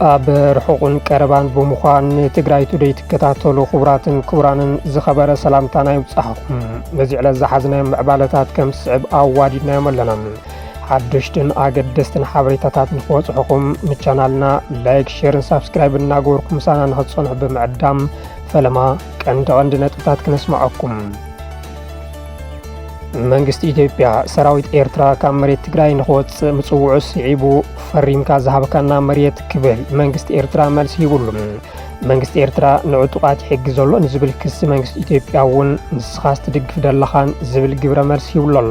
ኣብ ርሑቕን ቀረባን ብምዃን ንትግራይ ቱደይ ትከታተሉ ክቡራትን ክቡራንን ዝኸበረ ሰላምታና ይብፅሓኹም ነዚ ዕለት ዝሓዝናዮም ምዕባለታት ከም ዝስዕብ ኣዋዲድናዮም ኣለና ሓደሽትን ኣገደስትን ሓበሬታታት ንክበፅሑኹም ንቻናልና ላይክ፣ ሼርን ሳብስክራይብ እናገበርኩም ምሳና ንክትፀንሑ ብምዕዳም ፈለማ ቀንዲ ቀንዲ ነጥብታት ክነስማዐኩም። መንግስቲ ኢትዮጵያ ሰራዊት ኤርትራ ካብ መሬት ትግራይ ንክወፅእ ምፅውዑ ስዒቡ ፈሪምካ ዝሃብካና መሬት ክብል መንግስቲ ኤርትራ መልሲ ሂብሉ። መንግስቲ ኤርትራ ንዕጡቓት ይሕግዝ ዘሎ ንዝብል ክሲ መንግስቲ ኢትዮጵያ እውን ንስኻስ ትድግፍ ደለኻን ዝብል ግብረ መልሲ ሂብሉ ኣሎ።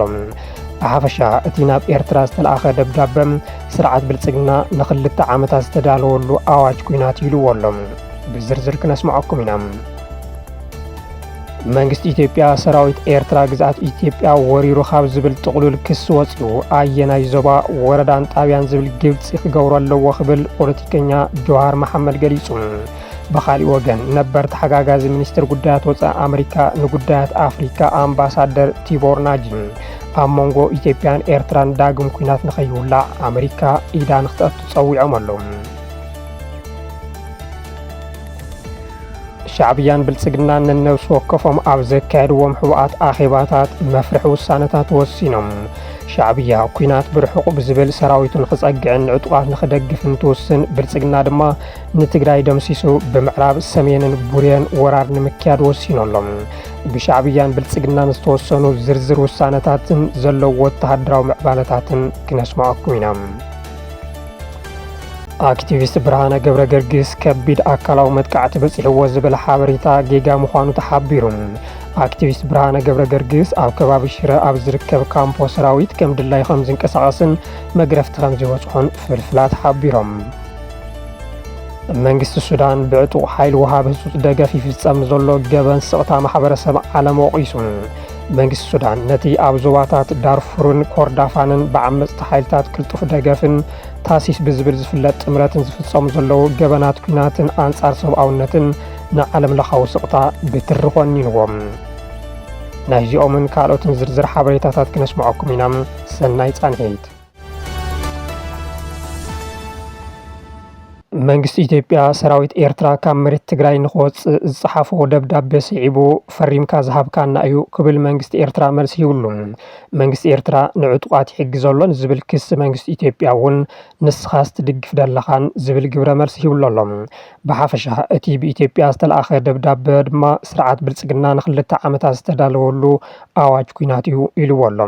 ብሓፈሻ እቲ ናብ ኤርትራ ዝተለኣኸ ደብዳበ ስርዓት ብልጽግና ንክልተ ዓመታት ዝተዳለወሉ ኣዋጅ ኩናት ኢልዎ ኣሎ። ብዝርዝር ክነስምዐኩም ኢና። መንግስቲ ኢትዮጵያ ሰራዊት ኤርትራ ግዝኣት ኢትዮጵያ ወሪሩ ካብ ዝብል ጥቕሉል ክሲ ወፂኡ ኣየናይ ዞባ ወረዳን ጣብያን ዝብል ግልፂ ክገብሮ ኣለዎ ክብል ፖለቲከኛ ጆሃር መሓመድ ገሊፁ። ብኻሊእ ወገን ነበር ተሓጋጋዚ ሚኒስትር ጉዳያት ወፃኢ ኣመሪካ ንጉዳያት ኣፍሪካ ኣምባሳደር ቲቦር ናጂ ኣብ መንጎ ኢትዮጵያን ኤርትራን ዳግም ኩናት ንኸይውላዕ ኣመሪካ ኢዳ ንክትኣቱ ጸዊዖም ኣለዉ። ሻዕብያን ብልጽግናን ነነብሲ ወከፎም ኣብ ዘካየድዎም ሕቡኣት ኣኼባታት መፍርሒ ውሳነታት ወሲኖም። ሻዕብያ ኩናት ብርሑቕ ብዝብል ሰራዊቱ ንክጸግዕን ንዕጡቓት ንክደግፍን ትውስን፣ ብልጽግና ድማ ንትግራይ ደምሲሱ ብምዕራብ ሰሜንን ቡሬን ወራር ንምክያድ ወሲኑ ኣሎ። ብሻዕብያን ብልጽግናን ዝተወሰኑ ዝርዝር ውሳነታትን ዘለዉ ወተሃደራዊ ምዕባለታትን ክነስምዐኩም ኢና። ኣክቲቪስት ብርሃነ ገብረ ገርግስ ከቢድ ኣካላዊ መጥቃዕቲ በፂሕዎ ዝብል ሓበሬታ ጌጋ ምዃኑ ተሓቢሩ። ኣክቲቪስት ብርሃነ ገብረ ገርግስ ኣብ ከባቢ ሽረ ኣብ ዝርከብ ካምፖ ሰራዊት ከም ድላይ ከም ዝንቀሳቐስን መግረፍቲ ከም ዝበፅሖን ፍልፍላት ሓቢሮም። መንግስቲ ሱዳን ብዕጡቕ ሓይሊ ውሃብ ህጹጽ ደገፍ ይፍጸም ዘሎ ገበን ስቕታ ማሕበረሰብ ዓለም ወቒሱ። መንግስቲ ሱዳን ነቲ ኣብ ዞባታት ዳርፉርን ኮርዳፋንን ብዓመጽቲ ሓይልታት ቅልጡፍ ደገፍን ታሲስ ብዝብል ዝፍለጥ ጥምረትን ዝፍጸሙ ዘለዉ ገበናት ኲናትን ኣንጻር ሰብኣውነትን ንዓለም ለኻዊ ስቕታ ብትሪ ኮኒንዎም። ናይዚኦምን ካልኦትን ዝርዝር ሓበሬታታት ክነስምዐኩም ኢና። ሰናይ ጻንሒት። መንግስቲ ኢትዮጵያ ሰራዊት ኤርትራ ካብ መሬት ትግራይ ንክወፅእ ዝፀሓፎ ደብዳቤ ስዒቡ ፈሪምካ ዝሃብካና እዩ ክብል መንግስቲ ኤርትራ መልሲ ይብሉ። መንግስቲ ኤርትራ ንዕጡቓት ይሕግዝ ኣሎ ንዝብል ክሲ መንግስቲ ኢትዮጵያ እውን ንስኻስ ትድግፍ ደለኻን ዝብል ግብረ መልሲ ሂብሉ ኣሎ። ብሓፈሻ እቲ ብኢትዮጵያ ዝተልኣኸ ደብዳበ ድማ ስርዓት ብልፅግና ንክልተ ዓመታት ዝተዳለወሉ ኣዋጅ ኲናት እዩ ኢሉዎ ኣሎ።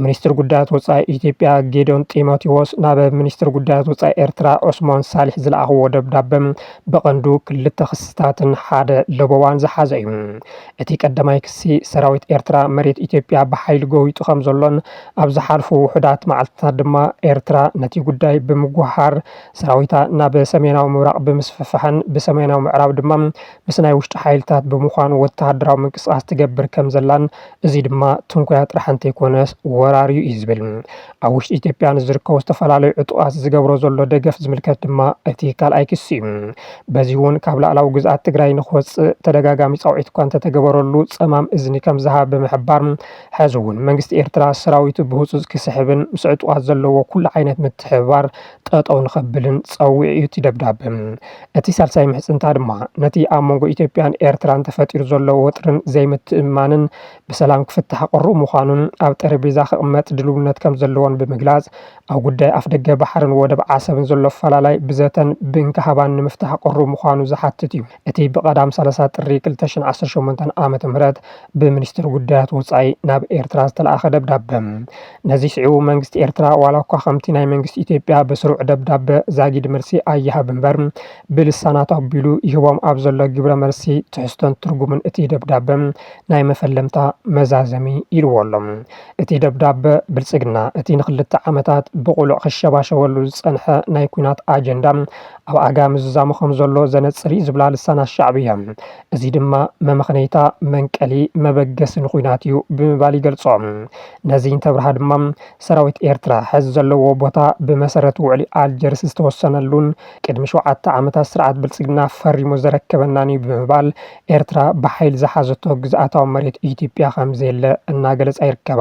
ሚኒስትር ጉዳያት ወፃኢ ኢትዮጵያ ጌዲዮን ጢሞቴዎስ ናብ ሚኒስትር ጉዳያት ወፃኢ ኤርትራ ዑስሞን ሳሊሕ ዝለኣኽዎ ደብዳበ ብቐንዱ ክልተ ክስታትን ሓደ ለበዋን ዝሓዘ እዩ። እቲ ቀዳማይ ክሲ ሰራዊት ኤርትራ መሬት ኢትዮጵያ ብሓይሊ ጎቢጡ ከምዘሎን ኣብ ዝሓልፉ ውሑዳት መዓልትታት ድማ ኤርትራ ነቲ ጉዳይ ብምጉህሃር ሰራዊታ ናብ ሰሜናዊ ምብራቕ ብምስፍፋሕን ብሰሜናዊ ምዕራብ ድማ ምስ ናይ ውሽጢ ሓይልታት ብምዃን ወተሃደራዊ ምንቅስቓስ ትገብር ከም ዘላን እዚ ድማ ትንኮያ ጥራሕ እንተይኮነስ ወራርዩ እዩ ዝብል። ኣብ ውሽጢ ኢትዮጵያ ንዝርከቡ ዝተፈላለዩ ዕጡቓት ዝገብሮ ዘሎ ደገፍ ዝምልከት ድማ እቲ ካልኣይ ክሲ እዩ። በዚ እውን ካብ ላዕላዊ ግዝኣት ትግራይ ንክወፅእ ተደጋጋሚ ፃውዒት እኳ እንተተገበረሉ ፀማም እዝኒ ከም ዝሃበ ብምሕባር ሕዚ እውን መንግስቲ ኤርትራ ሰራዊቱ ብህፁፅ ክስሕብን ምስ ዕጡቓት ዘለዎ ኩሉ ዓይነት ምትሕብባር ጠጠው ንኸብልን ፀዊዑ እዩ እቲ ደብዳበ። እቲ ሳልሳይ ምሕፅንታ ድማ ነቲ ኣብ መንጎ ኢትዮጵያን ኤርትራን ተፈጢሩ ዘሎ ወጥሪን ዘይምትእምማንን ብሰላም ክፍታሕ ቅሩብ ምዃኑን ኣብ ጠረጴዛ ክቕመጥ ድልውነት ከምዘለዎን ብምግላፅ ኣብ ጉዳይ ኣፍደገ ባሕርን ወደብ ዓሰብን ዘሎ ኣፈላላይ ብዘተን ብእንካሃባን ንምፍታሕ ቅሩብ ምዃኑ ዝሓትት እዩ። እቲ ብቀዳም ሰላሳ ጥሪ ክልተ ሽሕን ዓሰርተ ሸሞንተን ዓመተ ምህረት ብሚኒስትሪ ጉዳያት ወጻኢ ናብ ኤርትራ ዝተላእኸ ደብዳበ። ነዚ ስዒቡ መንግስቲ ኤርትራ ዋላ እኳ ከምቲ ናይ መንግስቲ ኢትዮጵያ ብስሩዕ ደብዳበ ዛጊድ መልሲ ኣይሃብ እምበር ብልሳናት ኣቢሉ ይህቦም ኣብ ዘሎ ግብረ መልሲ ትሕዝቶን ትርጉምን እቲ ደብዳበ ናይ መፈለምታ መዛዘሚ ኢልዎ ኣሎ። እቲ ደብዳበ ብልጽግና እቲ ንክልተ ዓመታት ብቕሉዕ ክሸባሸበሉ ዝጸንሐ ናይ ኲናት ኣጀንዳ ኣብ ኣጋ ምዝዛሙ ከምዘሎ ዘነጽር'ዩ ዝብላ ልሳናት ሻዕብያ፣ እዚ ድማ መመኽነይታ፣ መንቀሊ፣ መበገስን ኹናት እዩ ብምባል ይገልጾ። ነዚ እንተብርሃ ድማ ሰራዊት ኤርትራ ሐዚ ዘለዎ ቦታ ብመሰረት ውዕሊ ኣልጀርስ ዝተወሰነሉን ቅድሚ ሸውዓተ ዓመታት ስርዓት ብልጽግና ፈሪሙ ዘረከበናን እዩ ብምባል ኤርትራ ብሓይሊ ዝሓዘቶ ግዝኣታዊ መሬት ኢትዮጵያ ከምዘየለ እናገለጻ ይርከባ።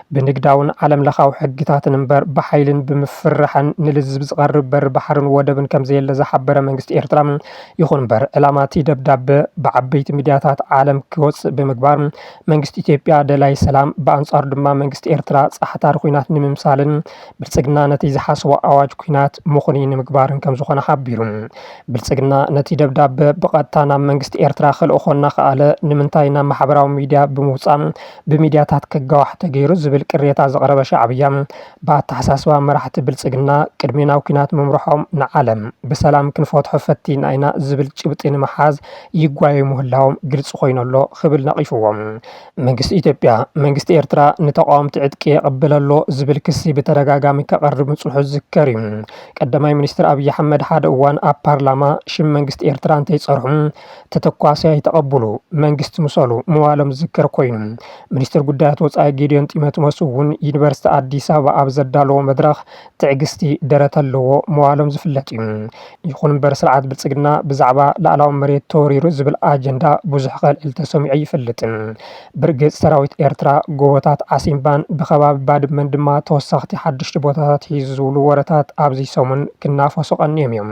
ብንግዳውን ዓለም ለኻዊ ሕግታትን እምበር ብሓይልን ብምፍርራሕን ንልዝብ ዝቐርብ በሪ ባሕርን ወደብን ከምዘየለ ዝሓበረ መንግስቲ ኤርትራ፣ ይኹን እምበር ዕላማ'ቲ ደብዳበ ብዓበይቲ ሚድያታት ዓለም ክወጽእ ብምግባር መንግስቲ ኢትዮጵያ ደላይ ሰላም ብኣንጻሩ ድማ መንግስቲ ኤርትራ ጻሕታሪ ኵናት ንምምሳልን ብልጽግና ነቲ ዝሓሰቦ ኣዋጅ ኵናት ምኽኑይ ንምግባርን ከምዝኾነ ሓቢሩ። ብልጽግና ነቲ ደብዳበ ብቐጥታ ናብ መንግስቲ ኤርትራ ከልእኾ እናኸኣለ ንምንታይ ናብ ማሕበራዊ ሚድያ ብምውጻእ ብሚድያታት ክጋዋሕ ተገይሩ ዝብል ቅሬታ ዘቕረበ ሻዕብያ፣ ብኣተሓሳስባ መራሕቲ ብልፅግና ቅድሚ ናብ ኲናት ምምርሖም ንዓለም ብሰላም ክንፈትሖ ፈቲና ኢና ዝብል ጭብጢ ንምሓዝ ይጓየዩ ምህላዎም ግልፂ ኮይኑ ኣሎ ክብል ነቒፍዎ። መንግስቲ ኢትዮጵያ፣ መንግስቲ ኤርትራ ንተቓወምቲ ዕጥቂ የቐብል ኣሎ ዝብል ክሲ ብተደጋጋሚ ከቕርብ ምፅንሑ ዝዝከር እዩ። ቀዳማይ ሚኒስትር ኣብይ ኣሕመድ ሓደ እዋን ኣብ ፓርላማ ሽም መንግስቲ ኤርትራ እንተይፀርሑ፣ ተተኳሲ ኣይተቐብሉ፣ መንግስቲ ምሰሉ ምባሎም ዝዝከር ኮይኑ፣ ሚኒስትር ጉዳያት ወፃኢ ጌዲዮን ጢሞትሞስ እውን ዩኒቨርሲቲ ኣዲስ ኣበባ ኣብ ዘዳለዎ መድረኽ ትዕግስቲ ደረት ኣለዎ ምባሎም ዝፍለጥ እዩ። ይኹን እምበር ስርዓት ብልፅግና ብዛዕባ ላእላዊ መሬት ተወሪሩ ዝብል ኣጀንዳ ብዙሕ ከልዕል ተሰሚዑ ኣይፈልጥን። ብርግፅ ሰራዊት ኤርትራ ጎቦታት ዓሲምባን ብከባቢ ባድመን ድማ ተወሰኽቲ ሓደሽቲ ቦታታት ሒዙ ዝብሉ ወረታት ኣብዚ ሰሙን ክናፈሱ ቀንዮም እዮም።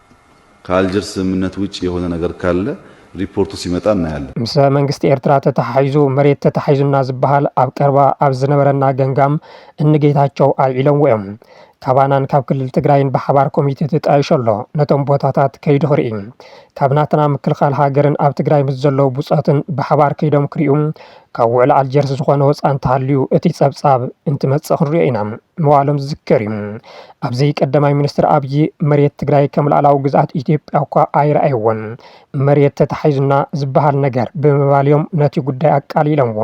ከኣልጀርስ ስምምነት ውጭ የሆነ ነገር ካለ ሪፖርቱ ሲመጣ እናያለን። ምሰ መንግስቲ ኤርትራ ተተሓሒዙ መሬት ተታሒዙና ዝበሃል ኣብ ቀርባ ኣብ ዝነበረና ገምጋም እኒ ጌታቸው ኣልዒሎምዎ እዮም። ካባናን ካብ ክልል ትግራይን ብሓባር ኮሚቴ ተጣይሹ ኣሎ ነቶም ቦታታት ከይዱ ክርኢ። ካብ ናትና ምክልኻል ሃገርን ኣብ ትግራይ ምስ ዘለዉ ብፆትን ብሓባር ከይዶም ክሪኡ ካብ ውዕሊ ኣልጀርስ ዝኾነ ወፃኢ እንተሃልዩ እቲ ፀብፃብ እንትመፅእ ክንሪኦ ኢና። ምባሎም ዝዝከር እዩ። ኣብዚ ቀዳማይ ሚኒስትር ኣብዪ መሬት ትግራይ ከም ላእላዊ ግዝኣት ኢትዮጵያ እኳ ኣይረኣይዎን፣ መሬት ተታሒዙና ዝበሃል ነገር ብምባል እዮም ነቲ ጉዳይ ኣቃሊለምዎ።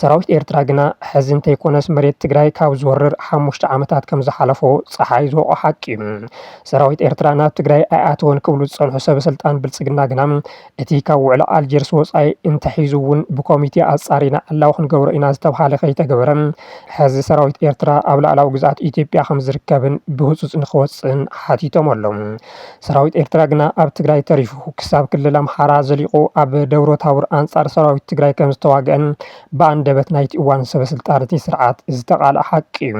ሰራዊት ኤርትራ ግና ሕዚ እንተይኮነስ መሬት ትግራይ ካብ ዝወርር ሓሙሽተ ዓመታት ከም ዝሓለፎ ፀሓይ ዝወቕዖ ሓቂ እዩ። ሰራዊት ኤርትራ ናብ ትግራይ ኣይኣተወን ክብሉ ዝፀንሑ ሰበስልጣን ብልፅግና ግና፣ እቲ ካብ ውዕሊ ኣልጀርስ ወፃኢ እንተሒዙ እውን ብኮሚቴ ኣፃሪና ዕላዊ ክንገብሮ ኢና ዝተብሃለ ከይተገበረ ሐዚ ሰራዊት ኤርትራ ኣብ ላእላዊ ግዝኣት ኢትዮጵያ ከምዝርከብን ብህፁፅ ንክወፅእን ሓቲቶም ኣለው። ሰራዊት ኤርትራ ግና ኣብ ትግራይ ተሪፉ ክሳብ ክልል ኣምሓራ ዘሊቑ ኣብ ደብረታቡር ኣንፃር ሰራዊት ትግራይ ከምዝተዋገኣን ብኣንደበት ናይቲ እዋን ሰበስልጣን እቲ ስርዓት ዝተቓልዐ ሓቂ እዩ።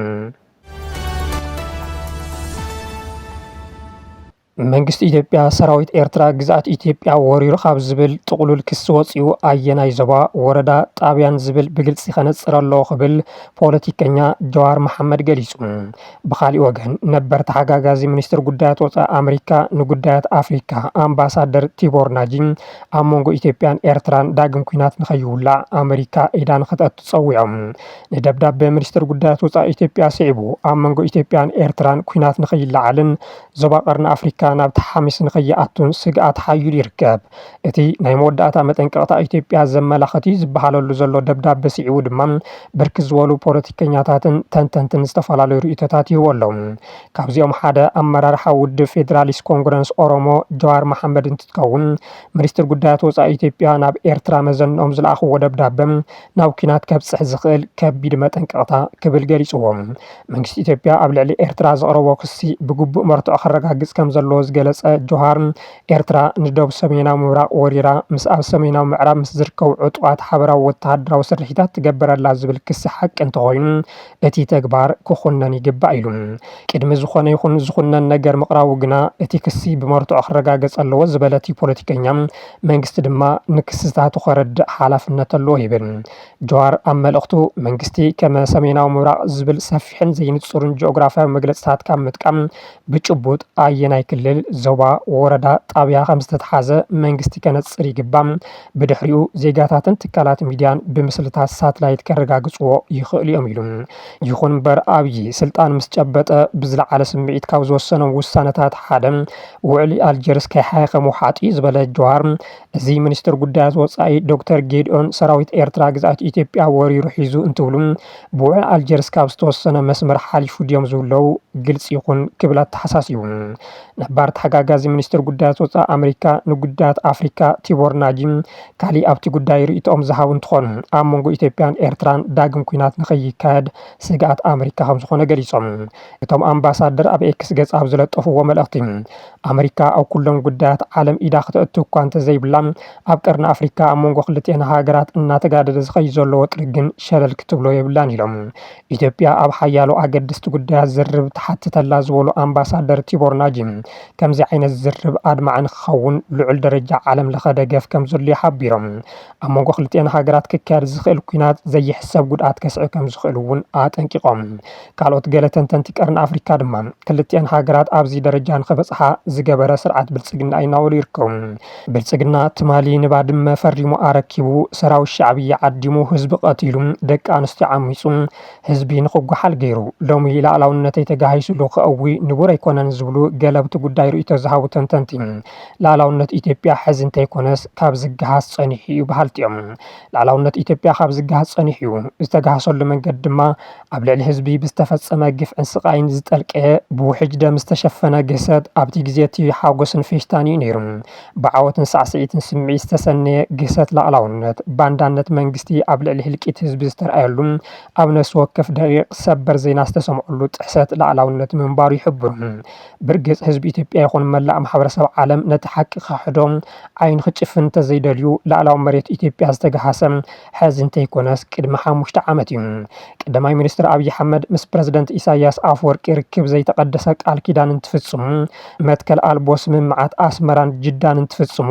መንግስቲ ኢትዮጵያ ሰራዊት ኤርትራ ግዝኣት ኢትዮጵያ ወሪሩ ካብ ዝብል ጥቕሉል ክሲ ወጺኡ ኣየናይ ዞባ፣ ወረዳ፣ ጣብያን ዝብል ብግልጺ ከነጽር ኣለዎ ክብል ፖለቲከኛ ጀዋር መሓመድ ገሊጹ። ብኻሊእ ወገን ነበር ተሓጋጋዚ ሚኒስትር ጉዳያት ወጻኢ ኣመሪካ ንጉዳያት ኣፍሪካ ኣምባሳደር ቲቦር ናጂ ኣብ መንጎ ኢትዮጵያን ኤርትራን ዳግም ኲናት ንከይውላዕ ኣመሪካ ኢዳ ንክተእቱ ጸዊዖም። ንደብዳበ ሚኒስትር ጉዳያት ወጻኢ ኢትዮጵያ ስዒቡ ኣብ መንጎ ኢትዮጵያን ኤርትራን ኲናት ንከይለዓልን ዞባ ቀርኒ ኣፍሪካ ናብ ተሓሚስ ንከይኣቱን ስግኣት ሓዩል ይርከብ። እቲ ናይ መወዳእታ መጠንቀቕታ ኢትዮጵያ ዘመላኸት'ዩ ዝበሃለሉ ዘሎ ደብዳበ ስዒቡ ድማ ብርክት ዝበሉ ፖለቲከኛታትን ተንተንትን ዝተፈላለዩ ርእይቶታት ይህቡ ኣለው። ካብዚኦም ሓደ ኣመራርሓ ውድብ ፌዴራሊስት ኮንግረንስ ኦሮሞ ጀዋር መሓመድ እንትትከውን ሚኒስትር ጉዳያት ወፃኢ ኢትዮጵያ ናብ ኤርትራ መዘንኦም ዝለኣኽዎ ደብዳበ ናብ ኲናት ከብፅሕ ዝኽእል ከቢድ መጠንቀቕታ ክብል ገሊፅዎ። መንግስቲ ኢትዮጵያ ኣብ ልዕሊ ኤርትራ ዘቕረቦ ክሲ ብግቡእ መርትዖ ከረጋግጽ ከም ዘለዎ ዝገለጸ ጆሃር፣ ኤርትራ ንዶብ ሰሜናዊ ምብራቕ ወሪራ፣ ምስ ኣብ ሰሜናዊ ምዕራብ ምስ ዝርከቡ ዕጡቓት ሓበራዊ ወተሃደራዊ ስርሒታት ትገብር ኣላ ዝብል ክሲ ሓቂ እንተኾይኑ እቲ ተግባር ክኹነን ይግባእ ኢሉ። ቅድሚ ዝኾነ ይኹን ዝኹነን ነገር ምቕራቡ ግና እቲ ክሲ ብመርትዖ ክረጋገጽ ኣለዎ ዝበለ እቲ ፖለቲከኛ፣ መንግስቲ ድማ ንክስታቱ ከረድእ ሓላፍነት ኣለዎ ይብል። ጀዋር ኣብ መልእኽቱ፣ መንግስቲ ከመ ሰሜናዊ ምብራቕ ዝብል ሰፊሕን ዘይንጹርን ጂኦግራፍያዊ መግለጺታት ካብ ምጥቃም፣ ብጭቡጥ ኣየናይ ክልል፣ ዞባ፣ ወረዳ፣ ጣብያ ከምዝተትሓዘ መንግስቲ ከነጽር ይግባእ። ብድሕሪኡ ዜጋታትን ትካላት ሚድያን ብምስልታት ሳትላይት ከረጋግጽዎ ይኽእሉ እዮም ኢሉ። ይኹን እምበር ኣብዪ ስልጣን ምስ ጨበጠ ብዝለዓለ ስምዒት ካብ ዝወሰኖም ውሳነታት ሓደ ውዕሊ ኣልጀርስ ከይሓየኸ ምውሓጥ'ዩ ዝበለ ጀዋር፣ እዚ ሚኒስትር ጉዳያት ወፃኢ ዶክተር ጌዲኦን ሰራዊት ኤርትራ ግዝኣት ኢትዮጵያ ወሪሩ ሒዙ እንትብሉ ብውዕል ኣልጀርስ ካብ ዝተወሰነ መስመር ሓሊፉ ድዮም ዝብለው ግልፂ ይኹን ክብል ኣተሓሳሲቡ። ነባር ተሓጋጋዚ ሚኒስትር ጉዳያት ወፃኢ ኣመሪካ ንጉዳያት ኣፍሪካ ቲቦር ናጂ ካሊእ ኣብቲ ጉዳይ ርእይቶኦም ዝሃቡ እንትኾኑ ኣብ መንጎ ኢትዮጵያን ኤርትራን ዳግም ኲናት ንከይካየድ ስግኣት ኣመሪካ ከምዝኾነ ገሊፆም። እቶም ኣምባሳደር ኣብ ኤክስ ገፅ ኣብ ዝለጠፍዎ መልእኽቲ፣ ኣመሪካ ኣብ ኩሎም ጉዳያት ዓለም ኢዳ ክተእቱ እኳ እንተዘይብላ፣ ኣብ ቀርኒ ኣፍሪካ ኣብ መንጎ ክልቲኣን ሃገራት እናተጋደደ ዝኸይድ ዘሎ ወጥሪ ግን ሸለል ክትብሎ የብላን ኢሎም። ኢትዮጵያ ኣብ ሓያሎ ኣገደስቲ ጉዳያት ዝርርብ ትሓትት ኣላ ዝበሉ ኣምባሳደር ቲቦር ናጂ፣ ከምዚ ዓይነት ዝርርብ ኣድማዒ ንክኸውን ልዑል ደረጃ ዓለም ለኸ ደገፍ ከምዘድልዮ ሓቢሮም። ኣብ መንጎ ክልቲኤን ሃገራት ክካየድ ዝኽእል ኲናት ዘይሕሰብ ጉድኣት ከስዕብ ከም ዝኽእል እውን ኣጠንቂቖም። ካልኦት ገለ ተንተንቲ ቀርኒ ኣፍሪካ ድማ ክልቲኤን ሃገራት ኣብዚ ደረጃ ንኽበፅሓ ዝገበረ ስርዓት ብልፅግና እዩ እናበሉ ይርከቡ። ብልፅግና ትማሊ ንባድመ ፈሪሙ ኣረኪቡ፣ ሰራዊት ሻዕብያ ዓዲሙ፣ ህዝቢ ቐቲሉ፣ ደቂ ኣንስትዮ ዓሚፁ፣ ህዝቢ ንኽጓሓል ገይሩ፣ ሎሚ ልኣላውነተይ ተጋሂሱሉ ከእዊ ንቡር ኣይኮነን ዝብሉ ገለብቲ ጉዳይ ርእይቶ ዝሃቡ ተንተንቲ ልኣላውነት ኢትዮጵያ ሕዚ እንተይኮነስ ካብ ዝገሃስ ፀኒሑ እዩ በሃልቲ እዮም። ልኣላውነት ኢትዮጵያ ካብ ዝገሃስ ፀኒሑ እዩ። ዝተገሃሰሉ መንገዲ ድማ ኣብ ልዕሊ ህዝቢ ብዝተፈፀመ ግፍዕን ስቓይን ዝጠልቀየ ብውሕጅ ደም ዝተሸፈነ ግህሰት ኣብቲ ግዜ እቲ ሓጎስን ፌሽታን እዩ ነይሩ። ብዓወትን ሳዕስዒትን ስምዒት ዝተሰነየ ግህሰት ልኣላውነት ባንዳነት መንግስቲ ኣብ ልዕሊ ህልቂት ህዝቢ ዝተርኣየሉ ኣብ ነፍሲ ወከፍ ደቒቕ ሰበር ዜና ዝተሰምዐሉ ጥሕሰት ልኣላውነት ምንባሩ ይሕብሩ። ብርግጽ ህዝቢ ኢትዮጵያ ይኹን መላእ ማሕበረሰብ ዓለም ነቲ ሓቂ ክኽሕዶ ዓይኑ ክጭፍን እንተዘይደልዩ ላእላዊ መሬት ኢትዮጵያ ዝተገሃሰ ሕዚ እንተይኮነስ ቅድሚ ሓሙሽተ ዓመት እዩ። ቀዳማይ ሚኒስትር ኣብይ ኣሕመድ ምስ ፕረዚደንት ኢሳይያስ ኣፍወርቂ ርክብ ዘይተቐደሰ ቃል ኪዳን እንትፍጽሙ፣ መትከል ኣልቦ ስምምዓት ኣስመራን ጅዳን እንትፍጽሙ፣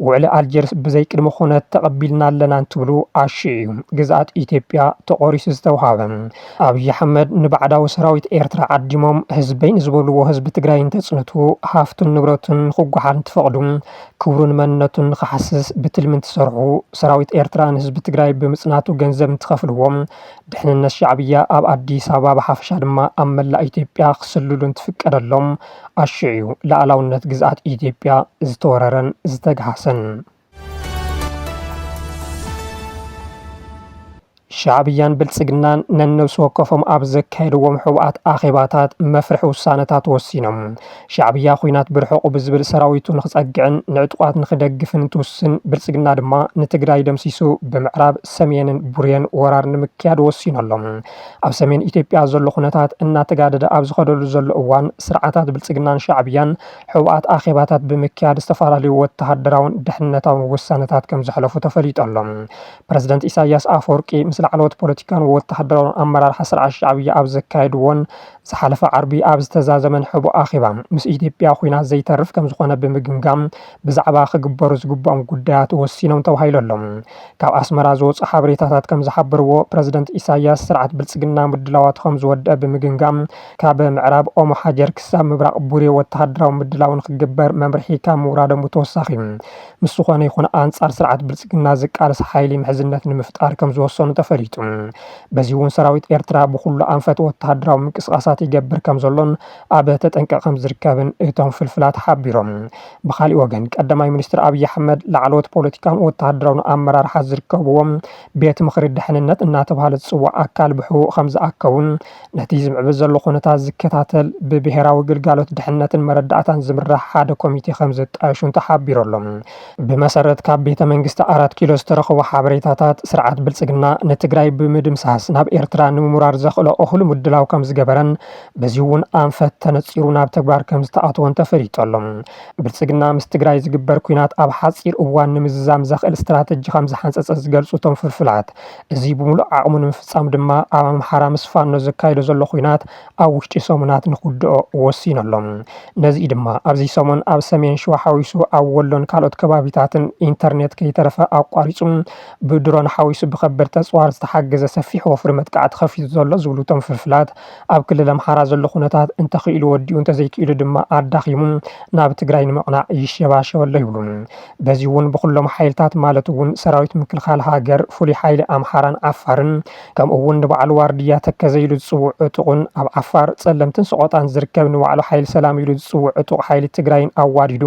ውዕሊ ኣልጀርስ ብዘይ ቅድመ ኩነት ተቐቢልና ኣለና እንትብሉ ኣሽዑ እዩ ግዝኣት ኢትዮጵያ ተቖሪሱ ዝተውሃበ። ኣብይ ኣሕመድ ንባዕዳዊ ሰራዊት ኤርትራ ዓዲሞም ህዝበይ ንዝበልዎ ህዝቢ ትግራይ እንተፅንቱ ሃፍቱን ንብረቱን ንክጓሓል እንትፈቕዱ ክብሩን መንነቱን ንክሓስስ ብትልሚ እንትሰርሑ ሰራዊት ኤርትራ ንህዝቢ ትግራይ ብምፅናቱ ገንዘብ እንትኸፍልዎ ድሕንነት ሻዕብያ ኣብ ኣዲስ ኣበባ ብሓፈሻ ድማ ኣብ መላእ ኢትዮጵያ ክስልሉ እንትፍቀደሎም ኣሽዑ እዩ ላእላውነት ግዝኣት ኢትዮጵያ ዝተወረረን ዝተግሃሰን። ሻዕብያን ብልጽግናን ነነብሲ ወከፎም ኣብ ዘካየድዎም ሕቡኣት ኣኼባታት መፍርሒ ውሳነታት ወሲኖም ሻዕብያ ኩናት ብርሑቑ ብዝብል ሰራዊቱ ንክጸግዕን ንዕጡቋት ንክደግፍን እንትውስን ብልጽግና ድማ ንትግራይ ደምሲሱ ብምዕራብ ሰሜንን ቡሬን ወራር ንምክያድ ወሲኑ ኣሎ። ኣብ ሰሜን ኢትዮጵያ ዘሎ ኩነታት እናተጋደደ ኣብ ዝኸደሉ ዘሎ እዋን ስርዓታት ብልጽግናን ሻዕብያን ሕቡኣት ኣኼባታት ብምክያድ ዝተፈላለዩ ወተሃደራውን ድሕንነታውን ውሳነታት ከም ዘሕለፉ ተፈሊጡ ኣሎ። ፕረዚደንት ኢሳይያስ ኣፈወርቂ ምስ ላዕለዎት ፖለቲካውን ወተሃደራውን ኣመራርሓ ስርዓት ሻዕብያ ኣብ ዘካየድዎን ዝሓለፈ ዓርቢ ኣብ ዝተዛዘመን ሕቡእ ኣኼባ ምስ ኢትዮጵያ ኵናት ዘይተርፍ ከም ዝዀነ ብምግምጋም ብዛዕባ ክግበሩ ዝግብኦም ጉዳያት ወሲኖም ተባሂሉ ኣሎ። ካብ ኣስመራ ዝወጹ ሓበሬታታት ከም ዝሓበርዎ ፕረዚደንት ኢሳይያስ ስርዓት ብልጽግና ምድላዋቱ ከም ዝወደኣ ብምግምጋም ካብ ምዕራብ ኦሞ ሓጀር ክሳብ ምብራቕ ቡሬ ወተሃደራዊ ምድላው ንክግበር መምርሒ ካብ ምውራዶም ብተወሳኺ ምስ ዝኾነ ይኹን ኣንፃር ስርዓት ብልፅግና ዝቃለስ ሓይሊ ምሕዝነት ንምፍጣር ከምዝወሰኑ ተፈሊጡ። በዚ እውን ሰራዊት ኤርትራ ብኹሉ ኣንፈት ወተሃደራዊ ምንቅስቓሳት ይገብር ከምዘሎን ኣብ ተጠንቀቕ ከምዝርከብን እቶም ፍልፍላት ሓቢሮም። ብኻሊእ ወገን ቀዳማይ ሚኒስትር ኣብይ ኣሕመድ ላዕለዎት ፖለቲካውን ወተሃደራውን ኣመራርሓ ዝርከብዎም ቤት ምኽሪ ድሕንነት እናተብሃለ ዝፅዋዕ ኣካል ብሕቡእ ከምዝኣከቡን ነቲ ዝምዕብል ዘሎ ኩነታት ዝከታተል ብብሄራዊ ግልጋሎት ድሕነትን መረዳእታን ዝምራሕ ሓደ ኮሚቴ ከምዘጣየሹን ተሓቢሩ ኣሎ። ብመሰረት ካብ ቤተ መንግስቲ ኣራት ኪሎ ዝተረኸቡ ሓበሬታታት፣ ስርዓት ብልፅግና ንትግራይ ብምድምሳስ ናብ ኤርትራ ንምውራር ዘኽእሎ እኹል ምድላው ከምዝገበረን በዚ እውን ኣንፈት ተነፂሩ ናብ ተግባር ከምዝተኣትወን ተፈሊጡ ኣሎ። ብልፅግና ምስ ትግራይ ዝግበር ኲናት ኣብ ሓፂር እዋን ንምዝዛም ዘኽእል ስትራተጂ ከምዝሓንፀፀ ዝገልፁ እቶም ፍልፍላት፣ እዚ ብሙሉእ ዓቕሙ ንምፍፃም ድማ ኣብ ኣምሓራ ምስ ፋኖ ዘካይዶ ዘሎ ኹናት ኣብ ውሽጢ ሰሙናት ንኽውድኦ ወሲኑ ኣሎ። ነዚ እዩ ድማ ኣብዚ ሰሙን ኣብ ሰሜን ሽዋ ሓዊሱ ኣብ ወሎን ካልኦት ከባቢታትን ኢንተርኔት ከይተረፈ ኣቋሪፁ ብድሮን ሓዊሱ ብከበድቲ ኣፅዋር ዝተሓገዘ ሰፊሕ ወፍሪ መጥቃዕቲ ከፊቱ ዘሎ ዝብሉ እቶም ፍልፍላት ኣብ ክልል ኣምሓራ ዘሎ ኹነታት እንተኽኢሉ ወዲኡ እንተዘይክኢሉ ድማ ኣዳኺሙ ናብ ትግራይ ንምቕናዕ ይሸባሸብ ኣሎ ይብሉ። በዚ'ውን ብኹሎም ሓይልታት ማለት'ውን ሰራዊት ምክልኻል ሃገር፣ ፍሉይ ሓይሊ ኣምሓራን ዓፋርን ከምኡ'ውን ንባዕሉ ዋርድያ ተከዘ ኢሉ ዝጽውዕ ዕጡቕን ኣብ ዓፋር፣ ጸለምትን ሰቖጣን ዝርከብ ንባዕሉ ሓይሊ ሰላም ኢሉ ዝጽውዕ ዕጡቕ ሓይሊ ትግራይን ኣዋዲዱ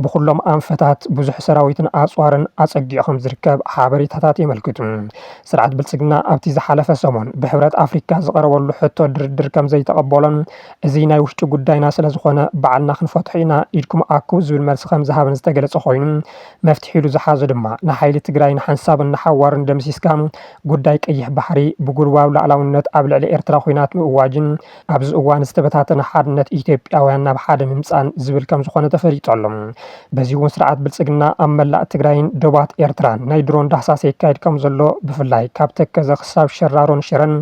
ብኹሎም ኣንፈታት ብዙሕ ሰራዊትን ኣጽዋርን ኣጸጊዑ ከምዝርከብ ሓበሬታታት የመልክቱ። ስርዓት ብልጽግና ኣብቲ ዝሓለፈ ሰሙን ብሕብረት ኣፍሪካ ዝቐረበሉ ሕቶ ድርድር ከምዘይተቐበሎን እዚ ናይ ውሽጢ ጉዳይና ስለዝኾነ ባዕልና ክንፈትሖ ኢና ኢድኩም ኣኩቡ ዝብል መልሲ ከምዝሃበን ዝተገለፀ ኮይኑ መፍትሒ ኢሉ ዝሓዞ ድማ ንሓይሊ ትግራይ ንሓንሳብን ንሓዋሩን ደምሲስካ ጉዳይ ቀይሕ ባሕሪ ብጉልባብ ላእላውነት ኣብ ልዕሊ ኤርትራ ኹናት ምእዋጅን ኣብዚ እዋን ዝተበታተነ ሓድነት ኢትዮጵያውያን ናብ ሓደ ምምፃን ዝብል ከምዝኾነ ተፈሊጡ ኣሎ። በዚ እውን ስርዓት ብልፅግና ኣብ መላእ ትግራይን ዶባት ኤርትራን ናይ ድሮን ዳህሳስ የካይድ ከምዘሎ ብፍላይ ካብ ተከዘ ክሳብ ሸራሮን ሽረን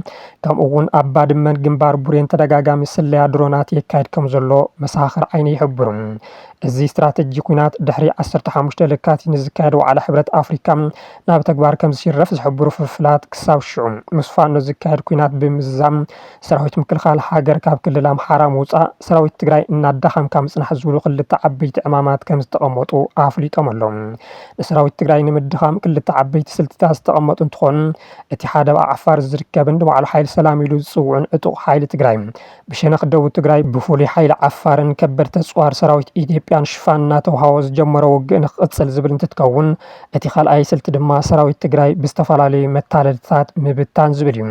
ከምኡ'ውን ኣብ ባድመን ግንባር ቡሬን ተደጋጋሚ ስለያ ድሮናት የካይድ ከምዘሎ መሰኻኽር ዓይኒ ይሕብሩ። እዚ ስትራተጂ ኲናት ድሕሪ ዓሰርተ ሓሙሽተ ለካቲት ንዝካየድ ዋዕላ ሕብረት ኣፍሪካ ናብ ተግባር ከምዝሽረፍ ዝሕብሩ ፍልፍላት ክሳብ ሽዑ ምስ ፋኖ ዝካየድ ኲናት ብምዝዛም ሰራዊት ምክልኻል ሃገር ካብ ክልል ኣምሓራ ምውፃእ ሰራዊት ትግራይ እናዳኸምካ ምፅናሕ ዝብሉ ክልተ ዓበይቲ ዕማማት ከምዝተቐመጡ ኣፍሊጦም ኣለው። ንሰራዊት ትግራይ ንምድኻም ክልተ ዓበይቲ ስልትታት ዝተቐመጡ እንትኾን እቲ ሓደ ኣብ ዓፋር ዝርከብን ንባዕሉ ሓይሊ ሰላም ኢሉ ዝፅውዕን ዕጡቕ ሓይሊ ትግራይ ብሸነኽ ደቡብ ትግራይ ብፍሉይ ሓይሊ ዓፋርን ከበድቲ ኣፅዋር ሰራዊት ኢትዮጵያን ሽፋን እናተውሃቦ ዝጀመሮ ውግእ ንክቕፅል ዝብል እንትትከውን እቲ ካልኣይ ስልቲ ድማ ሰራዊት ትግራይ ብዝተፈላለዩ መታለልትታት ምብታን ዝብል እዩ።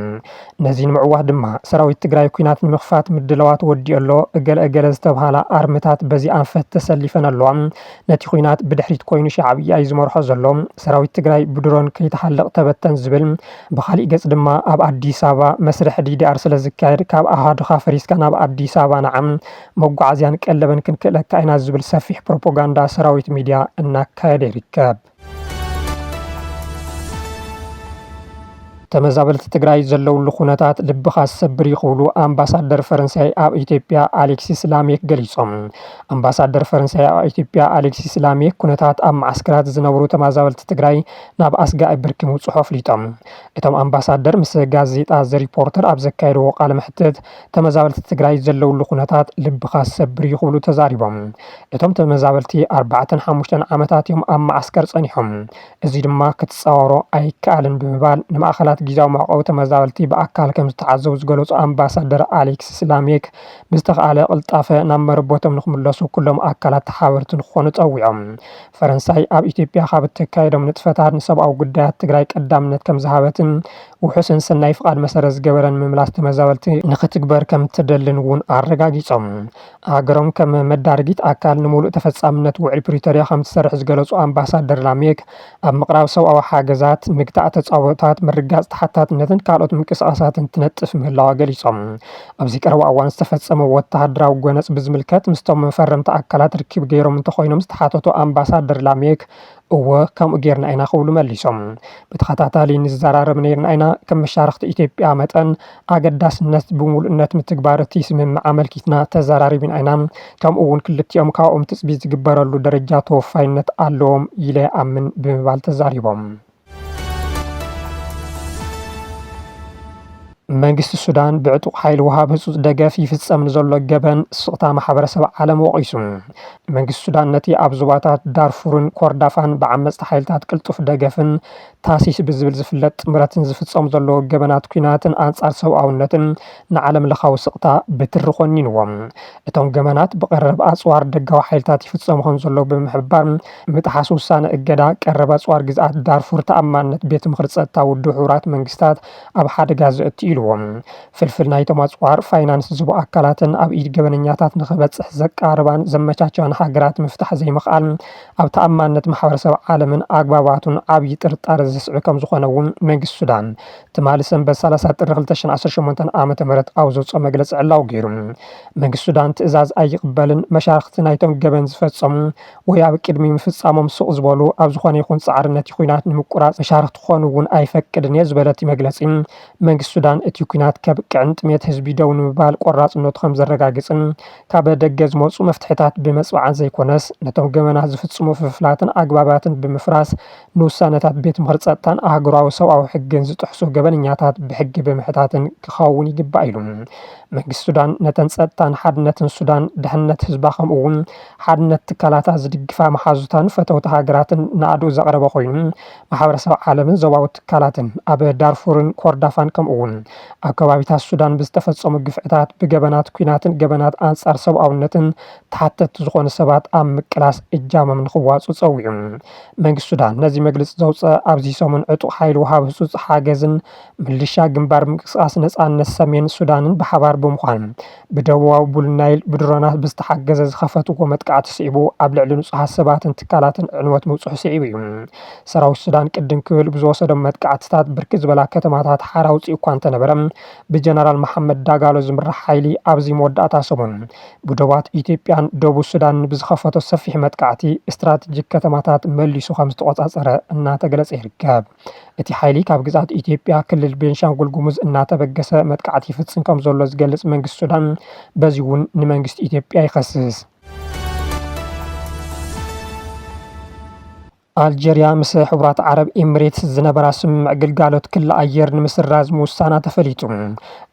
ነዚ ንምዕዋት ድማ ሰራዊት ትግራይ ኲናት ንምኽፋት ምድላዋት ወዲኡ ኣሎ፣ እገለ እገለ ዝተብሃላ ኣርምታት በዚ ኣንፈት ተሰሊፈን ኣለዋ። ነቲ ኹናት ብድሕሪት ኮይኑ ሻዕብያ ዩ ዝመርሖ ዘሎ፣ ሰራዊት ትግራይ ብድሮን ከይተሓለቕ ተበተን ዝብል፣ ብኻሊእ ገፅ ድማ ኣብ ኣዲስ ኣበባ መስርሕ ዲዲኣር ስለዝካየድ ካብ ኣሃዱኻ ፈሪስካ ናብ ኣዲስ ኣበባ ንዓ መጓዓዝያን ቀለብን ክንክእለካ ኢና ዝብል ሰፊሕ ፕሮፖጋንዳ ሰራዊት ሚድያ እናካየደ ይርከብ። ተመዛበልቲ ትግራይ ዘለውሉ ኩነታት ልብኻ ዝሰብር እዩ ክብሉ ኣምባሳደር ፈረንሳይ ኣብ ኢትዮጵያ ኣሌክሲስ ላሜክ ገሊፆም። ኣምባሳደር ፈረንሳይ ኣብ ኢትዮጵያ ኣሌክሲስ ላሜክ ኩነታት ኣብ መዓስከራት ዝነብሩ ተመዛበልቲ ትግራይ ናብ ኣስጋኢ ብርኪ ምብፅሑ ኣፍሊጦም። እቶም ኣምባሳደር ምስ ጋዜጣ ዘሪፖርተር ኣብ ዘካየድዎ ቃለ መሕትት ተመዛበልቲ ትግራይ ዘለውሉ ኩነታት ልብኻ ዝሰብር እዩ ክብሉ ተዛሪቦም። እቶም ተመዛበልቲ ኣርባዕተን ሓሙሽተን ዓመታት እዮም ኣብ መዓስከር ፀኒሖም፣ እዚ ድማ ክትፃወሮ ኣይከኣልን ብምባል ንማእኸላት ጊዚያዊ መዕቆቢ ተመዛበልቲ ብኣካል ከምዝተዓዘቡ ዝገለፁ ኣምባሳደር ኣሌክሲስ ላሜክ ብዝተኽኣለ ቅልጣፈ ናብ መረበቶም ንክምለሱ ኩሎም ኣካላት ተሓበርቲ ንክኾኑ ፀዊዖም። ፈረንሳይ ኣብ ኢትዮጵያ ካብ እተካይዶም ንጥፈታት ንሰብኣዊ ጉዳያት ትግራይ ቀዳምነት ከምዝሃበትን ውሑስን ሰናይ ፍቓድ መሰረት ዝገበረን ምምላስ ተመዛበልቲ ንኽትግበር ከም እትደልን እውን ኣረጋጊፆም። ሃገሮም ከም መዳርጊት ኣካል ንምሉእ ተፈፃምነት ውዕል ፕሪቶርያ ከም እትሰርሕ ዝገለፁ ኣምባሳደር ላሜክ፣ ኣብ ምቕራብ ሰብኣዊ ሓገዛት፣ ምግታእ ተፃብኦታት፣ ምርግጋፅ ተሓታትነትን ካልኦት ምንቅስቓሳትን ትነጥፍ ምህላዋ ገሊፆም። ኣብዚ ቀረባ እዋን ዝተፈፀመ ወተሃደራዊ ጎነፅ ብዝምልከት ምስቶም ፈረምቲ ኣካላት ርክብ ገይሮም እንተኾይኖም ዝተሓተቱ ኣምባሳደር ላሜክ፣ እወ ከምኡ ጌርና ኢና ክብሉ መሊሶም። ብተኸታታሊ ንዘራረብ ነይርና ኢና፣ ከም መሻርኽቲ ኢትዮጵያ መጠን ኣገዳስነት ብምሉእነት ምትግባር እቲ ስምምዕ ኣመልኪትና ተዘራሪብና ኢና፣ ከምኡ እውን ክልቲኦም ካብኦም ትፅቢት ዝግበረሉ ደረጃ ተወፋይነት ኣለዎም ኢለ ይኣምን ብምባል ተዛሪቦም። መንግስቲ ሱዳን ብዕጡቕ ሓይሊ ወሃብ ህጹጽ ደገፍ ይፍጸም ንዘሎ ገበን ስቕታ ማሕበረሰብ ዓለም ወቒሱ። መንግስቲ ሱዳን ነቲ ኣብ ዞባታት ዳርፉርን ኮርዳፋን ብዓመጽቲ ሓይልታት ቅልጡፍ ደገፍን ታሲስ ብዝብል ዝፍለጥ ጥምረትን ዝፍጸሙ ዘለዉ ገበናት ኲናትን ኣንጻር ሰብኣውነትን ንዓለምለኻዊ ስቕታ ብትሪ ኮኒንዎ። እቶም ገበናት ብቐረብ ኣጽዋር ደጋዊ ሓይልታት ይፍጸሙ ከምዘለዉ ብምሕባር፣ ምጥሓስ ውሳነ እገዳ ቀረብ ኣጽዋር ግዝኣት ዳርፉር ተኣማንነት ቤት ምኽሪ ጸጥታ ውድብ ሕቡራት መንግስታት ኣብ ሓደጋ ዘእቱ ኢሉዎ። ፍልፍል ናይቶም ኣጽዋር ፋይናንስ ዝህቡ ኣካላትን ኣብ ኢድ ገበነኛታት ንኽበጽሕ ዘቃርባን ዘመቻችዋን ሃገራት ምፍታሕ ዘይምኽኣል ኣብ ተኣማንነት ማሕበረሰብ ዓለምን ኣግባባቱን ዓብዪ ጥርጣረ ዘስዕብ ከምዝኾነ እውን መንግስቲ ሱዳን ትማሊ ሰንበት ሰላሳ ጥሪ ክልተ ሽሕን ዓሰርተ ሸሞንተን ዓመተ ምህረት ኣብ ዘውጽኦ መግለጺ ዕላዊ ገይሩ። መንግስቲ ሱዳን ትእዛዝ ኣይቕበልን፣ መሻርኽቲ ናይቶም ገበን ዝፈጸሙ ወይ ኣብ ቅድሚ ምፍጻሞም ስቕ ዝበሉ፣ ኣብ ዝኾነ ይኹን ጻዕሪ ነቲ ኲናት ንምቁራጽ መሻርኽቲ ክኾኑ እውን ኣይፈቅድን እየ ዝበለ እቲ መግለጺ፣ መንግስቲ ሱዳን እቲ ኲናት ከብቅዕን ጥሜት ህዝቢ ደው ንምባል ቆራጽነቱ ከምዘረጋግጽን ካበ ደገ ዝመጹ መፍትሒታት ብመጽብዓን ዘይኮነስ ነቶም ገበናት ዝፍጽሙ ፍፍላትን ኣግባባትን ብምፍራስ ንውሳነታት ቤት ምኽሪ ፀጥታን ኣህጉራዊ ሰብኣዊ ሕግን ዝጥሕሱ ገበነኛታት ብሕጊ ብምሕታትን ክኸውን ይግባእ ኢሉ። መንግስቲ ሱዳን ነተን ፀጥታን ሓድነትን ሱዳን፣ ድሕንነት ህዝባ ከምኡ እውን ሓድነት ትካላታ ዝድግፋ መሓዙታን ፈተውቲ ሃገራትን ናእድኡ ዘቕረበ ኮይኑ ማሕበረሰብ ዓለምን ዞባዊ ትካላትን ኣብ ዳርፉርን ኮርዳፋን ከምኡ እውን ኣብ ከባቢታት ሱዳን ብዝተፈፀሙ ግፍዕታት ብገበናት ኲናትን ገበናት ኣንፃር ሰብኣውነትን ተሓተትቲ ዝኾኑ ሰባት ኣብ ምቅላስ እጃሞም ንኽዋፅኡ ፀዊዑ። መንግስቲ ሱዳን ነዚ መግልፂ ዘውፀ ኣብዚ ሰሙን ዕጡቕ ሓይሊ ወሃቢ ህፁፅ ሓገዝን ምልሻ ግንባር ምንቅስቓስ ነፃነት ሰሜን ሱዳንን ብሓባር ብምዃን ብደቡባዊ ቡል ናይል ብድሮናት ብዝተሓገዘ ዝኸፈትዎ መጥቃዕቲ ስዒቡ ኣብ ልዕሊ ንፁሃት ሰባትን ትካላትን ዕንወት ምብፅሑ ስዒቡ እዩ። ሰራዊት ሱዳን ቅድም ክብል ብዝወሰዶም መጥቃዕትታት ብርክት ዝበላ ከተማታት ሓራ ኣውፂኡ እኳ እንተነበረ ብጀነራል መሓመድ ዳጋሎ ዝምራሕ ሓይሊ ኣብዚ መወዳእታ ሰሙን ብዶባት ኢትዮጵያን ደቡብ ሱዳንን ብዝኸፈቶ ሰፊሕ መጥቃዕቲ ስትራቴጂክ ከተማታት መሊሱ ከምዝተቖፃፀረ እናተገለፀ ይርከብ። እቲ ሓይሊ ካብ ግዝኣት ኢትዮጵያ ክልል ቤንሻንጉል ጉሙዝ እናተበገሰ መጥቃዕቲ ይፍፅም ከምዘሎ ዝገልፅ መንግስቲ ሱዳን በዚ እውን ንመንግስቲ ኢትዮጵያ ይኸስስ። ኣልጀርያ ምስ ሕቡራት ዓረብ ኤምሬትስ ዝነበራ ስምምዕ ግልጋሎት ክሊ ኣየር ንምስራዝ ምውሳና ተፈሊጡ።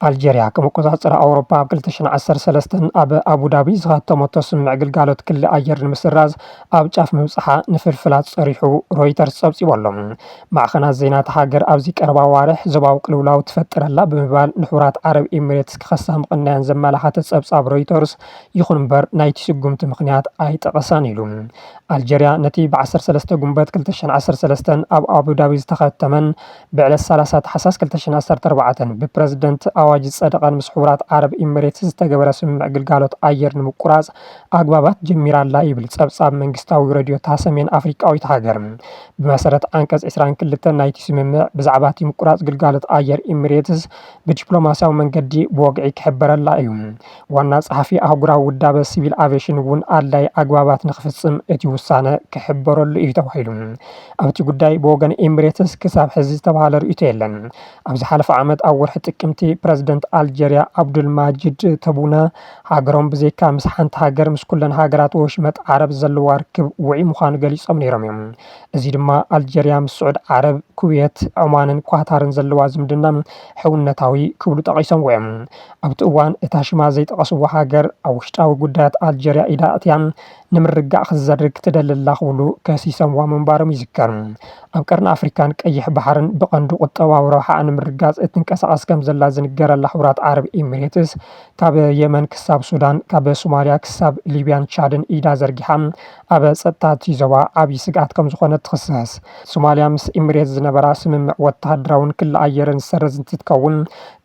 ኣልጀርያ ከም ኣቆጻጽራ ኣውሮፓ ኣብ 2013 ኣብ ኣቡዳቢ ዝኸተመቶ ስምምዕ ግልጋሎት ክሊ ኣየር ንምስራዝ ኣብ ጫፍ ምብጽሓ ንፍልፍላት ጸሪሑ ሮይተርስ ጸብጺቡ ኣሎ። ማዕኸናት ዜና እታ ሃገር ኣብዚ ቀረባ ኣዋርሕ ዞባዊ ቅልውላው ትፈጥር ኣላ ብምባል ንሕቡራት ዓረብ ኤምሬትስ ክኸሳ ምቕናየን ዘመላኸተ ጸብጻብ ሮይተርስ ይኹን እምበር ናይቲ ስጉምቲ ምኽንያት ኣይጠቐሳን ኢሉ። ኣልጀርያ ነቲ ብ ዓሰርተ ሰለስተ ጉንበት ክልተ ሽሕን ዓሰርተ ሰለስተን ኣብ ኣቡዳቢ ዝተኸተመን ብዕለት ሰላሳ ታሕሳስ ክልተ ሽሕን ዓሰርተ ኣርባዕተን ብፕረዚደንት ኣዋጅ ዝጸደቐን ምስ ሕቡራት ዓረብ ኢሚሬትስ ዝተገበረ ስምምዕ ግልጋሎት ኣየር ንምቁራጽ ኣግባባት ጀሚራ'ላ ይብል ጸብጻብ መንግስታዊ ረድዮ'ታ ሰሜን ኣፍሪቃዊት ሃገር። ብመሰረት ዓንቀጽ ዕስራን ክልተን ናይቲ ስምምዕ፣ ብዛዕባ'ቲ ምቁራጽ ግልጋሎት ኣየር ኢሚሬትስ ብዲፕሎማስያዊ መንገዲ ብወግዒ ክሕበረላ እዩ። ዋና ጸሓፊ ኣህጉራዊ ውዳበ ሲቪል ኣቬሽን እውን ኣድላይ ኣግባባት ንክፍጽም እቲ ውሳነ ክሕበረሉ እዩ ተባሂሉ። ኣብቲ ጉዳይ ብወገን ኤምሬትስ ክሳብ ሕዚ ዝተባሃለ ርእይቶ የለን። ኣብ ዝሓለፈ ዓመት ኣብ ወርሒ ጥቅምቲ ፕረዚደንት ኣልጀርያ ኣብዱል ማጂድ ተቡነ ሃገሮም ብዘይካ ምስ ሓንቲ ሃገር ምስ ኩለን ሃገራት ወሽመጥ ዓረብ ዘለዋ ርክብ ውዑይ ምዃኑ ገሊጾም ነይሮም እዮም። እዚ ድማ ኣልጀርያ ምስ ስዑድ ዓረብ፣ ኩዌት፣ ዖማንን ኳታርን ዘለዋ ዝምድና ሕውነታዊ ክብሉ ጠቒሶምዎ እዮም። ኣብቲ እዋን እታ ሽማ ዘይጠቐስዋ ሃገር ኣብ ውሽጣዊ ጉዳያት ኣልጀርያ ኢዳ ኣእትያን ንምርግጋእ ክትዘርግ ትደሊ ኣላ ክብሉ ከሲሰምዋ ምንባሮም ይዝከር። ኣብ ቀርኒ ኣፍሪካን ቀይሕ ባሕርን ብቐንዱ ቁጠባዊ ረብሓኣ ንምርግጋፅ እትንቀሳቐስ ከምዘላ ዝንገረላ ሕቡራት ዓረብ ኢሚሬትስ ካብ የመን ክሳብ ሱዳን ካብ ሶማልያ ክሳብ ሊብያን ቻድን ኢዳ ዘርጊሓ ኣብ ጸጥታ እቲ ዞባ ዓቢ ስግኣት ከምዝኾነት ትኽሰስ። ሶማልያ ምስ ኢምሬት ዝነበራ ስምምዕ ወተሃደራውን ክሊ ኣየርን ዝሰረዝ እንትትከውን፣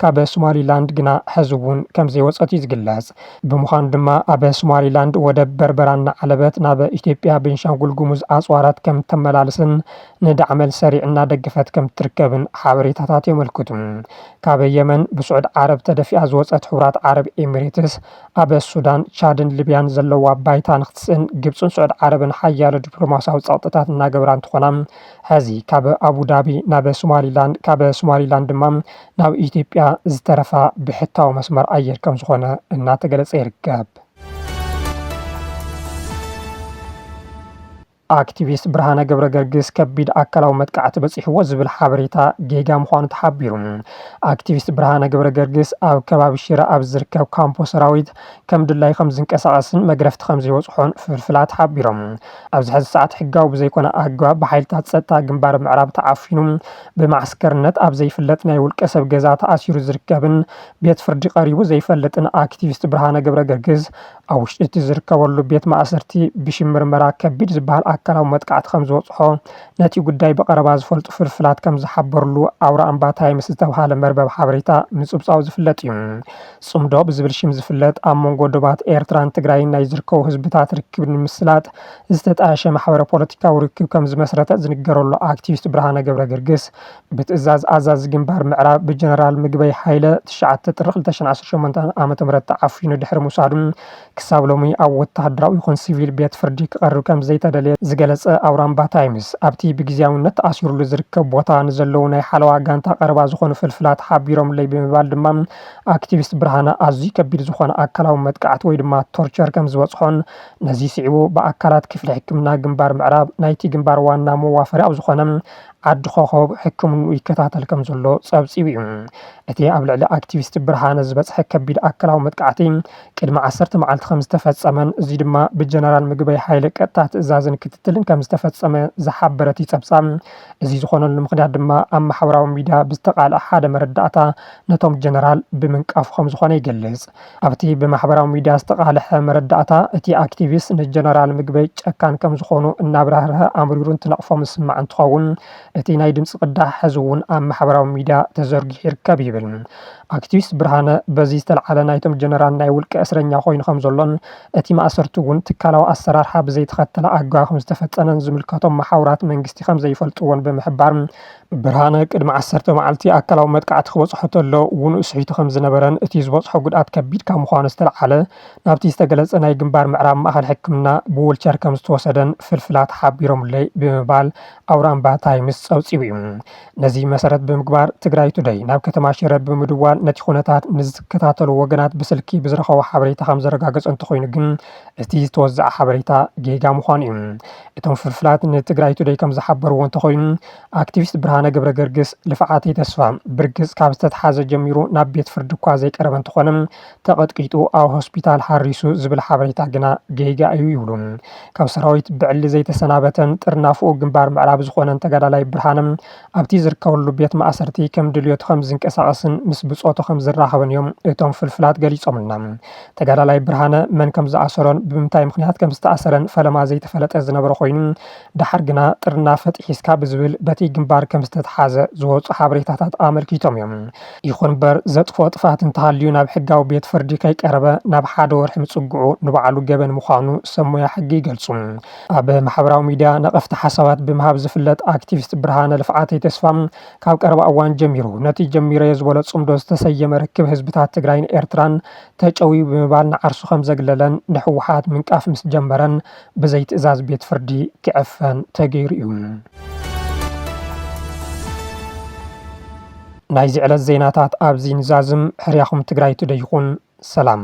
ካብ ሶማሊላንድ ግና ሕዚ'ውን ከምዘይወጸት'ዩ ዝግለጽ። ብምዃኑ ድማ ኣብ ሶማሊላንድ ወደብ በርበራ እናዓለበት ናብ ኢትዮጵያ ቤንሻንጉል ጉሙዝ ኣጽዋራት ከምተመላልስን ንዳዕመል ሰሪዕ እናደገፈት ከምትርከብን ሓበሬታታት የመልክቱ። ካብ የመን ብስዑድ ዓረብ ተደፊኣ ዝወጸት ሕቡራት ዓረብ ኢምሬትስ ኣብ ሱዳን፣ ቻድን ሊብያን ዘለዋ ባይታ ንክትስእን ግብፅን ስዑድ ዓረብን ሓያሎ ዲፕሎማሲያዊ ፀቕጥታት እናገበራ እንትኾና ሐዚ ካብ ኣቡዳቢ ናብ ሶማሊላንድ ካብ ሶማሊላንድ ድማ ናብ ኢትዮጵያ ዝተረፋ ብሕታዊ መስመር ኣየር ከምዝኾነ እናተገለፀ ይርከብ። ኣክቲቪስት ብርሃነ ገብረገርግስ ከቢድ ኣካላዊ መጥቃዕቲ በፂሕዎ ዝብል ሓበሬታ ጌጋ ምዃኑ ተሓቢሩ። ኣክቲቪስት ብርሃነ ገብረገርግስ ኣብ ከባቢ ሽረ ኣብ ዝርከብ ካምፖ ሰራዊት ከም ድላዩ ከም ዝንቀሳቐስን መግረፍቲ ከም ዘይበፅሖን ፍልፍላት ሓቢሮም። ኣብዚ ሕዚ ሰዓት ሕጋዊ ብዘይኮነ ኣገባብ ብሓይልታት ፀጥታ ግንባር ምዕራብ ተዓፊኑ ብማዕስከርነት ኣብ ዘይፍለጥ ናይ ውልቀ ሰብ ገዛ ተኣሲሩ ዝርከብን ቤት ፍርዲ ቀሪቡ ዘይፈልጥን ኣክቲቪስት ብርሃነ ገብረገርግስ ኣብ ውሽጢ እቲ ዝርከበሉ ቤት ማእሰርቲ ብሽም ምርመራ ከቢድ ዝበሃል ኣካላዊ መጥቃዕቲ ከም ዝበፅሖ ነቲ ጉዳይ ብቐረባ ዝፈልጡ ፍልፍላት ከም ዝሓበሩሉ ኣውራኣምባ ታይምስ ዝተብሃለ መርበብ ሓበሬታ ምፅብፃቡ ዝፍለጥ እዩ። ፅምዶ ብዝብል ሽም ዝፍለጥ ኣብ መንጎ ዶባት ኤርትራን ትግራይን ናይ ዝርከቡ ህዝብታት ርክብ ንምስላጥ ዝተጣየሸ ማሕበረ ፖለቲካዊ ርክብ ከም ዝመስረተ ዝንገረሉ ኣክቲቪስት ብርሃነ ገብረገርግስ ብትእዛዝ ኣዛዚ ግንባር ምዕራብ ብጀነራል ምግበይ ሃይለ ትሽዓተ ጥሪ ክልተ ሽሕን ዓሰርተ ሸሞንተን ዓመተ ምህረት ተዓፊኑ ድሕሪ ምውሳዱ ክሳብ ሎሚ ኣብ ወተሃደራዊ ይኹን ሲቪል ቤት ፍርዲ ክቐርብ ከምዘይተደልየ ዝገለፀ ኣውራምባ ታይምስ ኣብቲ ብግዚያዊነት ተኣሲሩሉ ዝርከብ ቦታ ንዘለዉ ናይ ሓለዋ ጋንታ ቀረባ ዝኾኑ ፍልፍላት ሓቢሮምለይ ብምባል ድማ ኣክቲቪስት ብርሃነ ኣዝዩ ከቢድ ዝኾነ ኣካላዊ መጥቃዕቲ ወይ ድማ ቶርቸር ከምዝበፅሖን ነዚ ስዒቡ ብኣካላት ክፍሊ ሕክምና ግንባር ምዕራብ ናይቲ ግንባር ዋና መዋፈሪ ኣብ ዝኾነ ዓዲ ኮኾብ ሕክምንኡ ይከታተል ከምዘሎ ጸብጺቡ'ዩ። እቲ ኣብ ልዕሊ ኣክቲቪስት ብርሃነ ዝበጽሐ ከቢድ ኣካላዊ መጥቃዕቲ ቅድሚ ዓሰርተ መዓልቲ ከምዝተፈጸመን እዚ ድማ ብጀነራል ምግበይ ሃይለ ቀጥታ ትእዛዝን ክትትልን ከምዝተፈጸመ ዝሓበረቲ ጸብጻብ እዚ ዝኾነሉ ምኽንያት ድማ ኣብ ማሕበራዊ ሚድያ ብዝተቃልዐ ሓደ መረዳእታ ነቶም ጀነራል ብምንቃፉ ከምዝኾነ ይገልጽ። ኣብቲ ብማሕበራዊ ሚድያ ዝተቓለሐ መረዳእታ፣ እቲ ኣክቲቪስት ንጀነራል ምግበይ ጨካን ከምዝኾኑ እናብራህረሀ ኣምሪሩ እንትነቕፎም ዝስማዕ እንትኸውን፣ እቲ ናይ ድምፂ ቅዳሕ ሐዚ እውን ኣብ ማሕበራዊ ሚድያ ተዘርጊሑ ይርከብ ይብል። ኣክቲቪስት ብርሃነ በዚ ዝተልዓለ ናይቶም ጀነራል ናይ ውልቀ እስረኛ ኮይኑ ከምዘሎን እቲ ማእሰርቲ እውን ትካላዊ ኣሰራርሓ ብዘይተኸተለ ኣገባብ ከምዝተፈፀነን ዝምልከቶም መሓውራት መንግስቲ ከምዘይፈልጥዎን ብምሕባር ብርሃነ ቅድሚ ዓሰርተ መዓልቲ ኣካላዊ መጥቃዕቲ ክበጽሖ ተሎ ውኑእ ስሒቱ ከም ዝነበረን እቲ ዝበጽሖ ጉድኣት ከቢድ ካብ ምዃኑ ዝተልዓለ ናብቲ ዝተገለጸ ናይ ግንባር ምዕራብ ማእከል ሕክምና ብውልቸር ከም ዝተወሰደን ፍልፍላት ሓቢሮምለይ ብምባል ኣውራምባ ታይምስ ጸብጺቡ'ዩ። ነዚ መሰረት ብምግባር ትግራይ ቱደይ ናብ ከተማ ሽረ ብምድዋል ነቲ ኩነታት ንዝከታተሉ ወገናት ብስልኪ ብዝረኸቦ ሓበሬታ ከም ዘረጋገጾ እንተኾይኑ ግን እቲ ዝተወዘዐ ሓበሬታ ጌጋ ምዃኑ እዩ። እቶም ፍልፍላት ንትግራይ ቱደይ ከምዝሓበርዎ እንተኾይኑ ኣክቲቪስት ብርሃነ ገብረገርግስ ልፍዓተይ ተስፋ ብርግፅ ካብ ዝተትሓዘ ጀሚሩ ናብ ቤት ፍርዲ እኳ ዘይቀረበ እንተኾነ ተቐጥቂጡ ኣብ ሆስፒታል ሓሪሱ ዝብል ሓበሬታ ግና ጌጋ እዩ ይብሉ። ካብ ሰራዊት ብዕሊ ዘይተሰናበተን ጥርናፈኡ ግንባር ምዕራብ ዝኾነን ተጋዳላይ ብርሃነ ኣብቲ ዝርከበሉ ቤት ማእሰርቲ ከም ድልዮቱ ከም ዝንቀሳቐስን ምስ ብፆቱ ከም ዝራኸብን እዮም እቶም ፍልፍላት ገሊፆምልና። ተጋዳላይ ብርሃነ መን ከም ዝኣሰሮን ብምንታይ ምኽንያት ከም ዝተኣሰረን ፈለማ ዘይተፈለጠ ዝነበረ ኮይኑ ደሓር ግና ጥርናፈ ጥሒስካ ብዝብል በቲ ግንባር ከም ዝተትሓዘ ዝወፁ ሓበሬታታት ኣመልኪቶም እዮም። ይኹን እምበር ዘጥፍኦ ጥፍኣት እንተሃልዩ ናብ ሕጋዊ ቤት ፍርዲ ከይቀረበ ናብ ሓደ ወርሒ ምፅግዑ ንባዕሉ ገበን ምዃኑ ሰብ ሞያ ሕጊ ይገልፁ። ኣብ ማሕበራዊ ሚድያ ነቐፍቲ ሓሳባት ብምሃብ ዝፍለጥ ኣክቲቪስት ብርሃነ ልፍዓተይ ተስፋ፣ ካብ ቀረባ እዋን ጀሚሩ ነቲ ጀሚረዮ ዝበሎ ጽምዶ ዝተሰየመ ርክብ ህዝብታት ትግራይን ኤርትራን ተጨውዩ ብምባል ንዓርሱ ከምዘግለለን ንህወሓት ምንቃፍ ምስ ጀመረን ብዘይ ትእዛዝ ቤት ፍርዲ ክዕፈን ተገይሩ'ዩ። ናይዚ ዕለት ዜናታት ኣብዚ ንዛዝም፣ ሕርያኹም ትግራይ ቱደይ ይኹን። ሰላም።